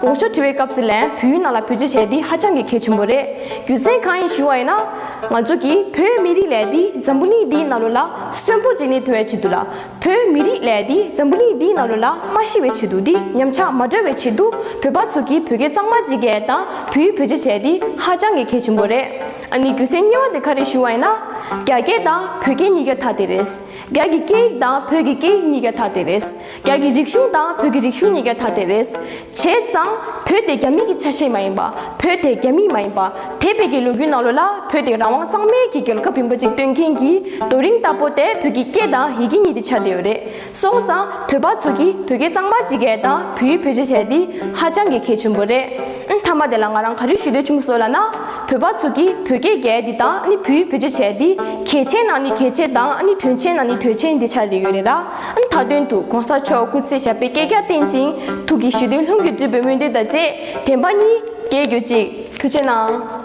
དགོངས་ཞུ་དྲི་བའི་སྐབས་སུ་ལན་བུའི་ནང་ལ་བུ་བཅོས་བྱས་འདི་ཧ་ཅང་གི་གལ་ཆེན་པོ་རེད་རྒྱུ་མཚན་གང་ཡིན་ཞུ་བ་ཡིན་ན། ང་ཚོ་གིས་བོད་མི་རིགས་ལས་འདི་འཛམ་བུ་གླིང་འདིའི་ནང་ལོ་ལ་གསོན་པོ་བྱེད་ནི་དུ་བའི་ཆེད་དུ་ལ་བོད་མི་རིགས་ལས་འདི་འཛམ་བུ་གླིང་འདིའི་ནང་ལོ་ལ་མ་ཤི་བའི་ཆེད་དུ་འདི་ཉམས་ཆག་མ་སྒྲོལ་བའི་ཆེད་དུ་བོད་པ་ཚོ་གིས་བོད་སྐད་གཙང་མ་བྱེད་གལ་དང་བུའི་བོད་བཅོས་བྱས་འདི་ཧ་ཅང་གི་གལ་ཆེན་པོ་རེད་ཨ་ནི་རྒྱུ་མཚན་གཉིས་བ་དེ་ག་རེད་ཞུ་བ་ཡིན་ན། རྒྱ་སྐད་དང་བོད་སྐད་གཉིས་ཀ་དག་དེ་རེད། རྒྱ་གི་སྐད་ཡིག་དང་བོད་ཀྱི་སྐད་ཡིག་གཉིས་ཀ་དག་དེ་རེད། རྒྱ་གི་རིག་གཞུང་དང་བོད་ཀྱི་རིག་གཞུང་གཉིས་ཀ་ཐ་དད་རེད། བྱས་ཙང་བོད་དེ་རྒྱ་མི་གི་ཆ་ཤས་མ་ཡིན་པ། བོད་དེ་རྒྱ་མི་མ་ཡིན་པ། དེ་བས་ཀྱི་ལོ་རྒྱུས་ནང་ལོ་ལ་བོད་དེ་རང་དབང་གཙང་མའི་གི་རྒྱལ་ཁབ་ཡིན་པ་ཅིག་སྟོན་མཁན་གྱི་རྡོ་རིང་ལྟ་བུ་དེ་བོད་ཀྱི་སྐད་དང་ཡི་གེ་གཉིས་དེ་ཆ་དེ་ཡོད་རེད་སོང་ཙང་བོད་པ་ཚོ་གི་བོད་སྐད་གཙང་མ་ཅིག་གས་དང་བུའི་བོད་སྤྱི་བྱས་དེ་ཧ་ཅང་གི་གལ་ཆེན་པོ་རེད། མཐའ་མ་དེ་ལ་ང་རང་ག་རེ་ཞུ་འདོད་བྱུང་སོ་ལ་ན། བོད་པ་ཚོ་གི་བོད་སྐད་གས་དེ་དང་ནི་བུའི་བོད་སྤྱི་བྱས་དེ་གལ་ཆེན་ནང་ནི་གལ་ཆེན་དང་ནི་དོན་ཆེན་ནང་ནི་དོན་ཆེན་དེ་ཆ་དེ་ཡོད་རེད་ར། མཐའ་དོན་དུ་གོང་ས་མཆོག་སྐུ་ཚེ་ཞབས་པད་བསྐལ་བརྒྱར་བརྟན་ཅིང་ཐུགས་ཀྱི་ཞི་དུལ་ལྷུན་གྱིས་འགྲུབ་པའི་སྨོན་འདུན་དང་བཅས་དན་པ་གཉིས་རྒྱལ་གྱུར་ཅིག་ཐུགས་ཆེ་གནང།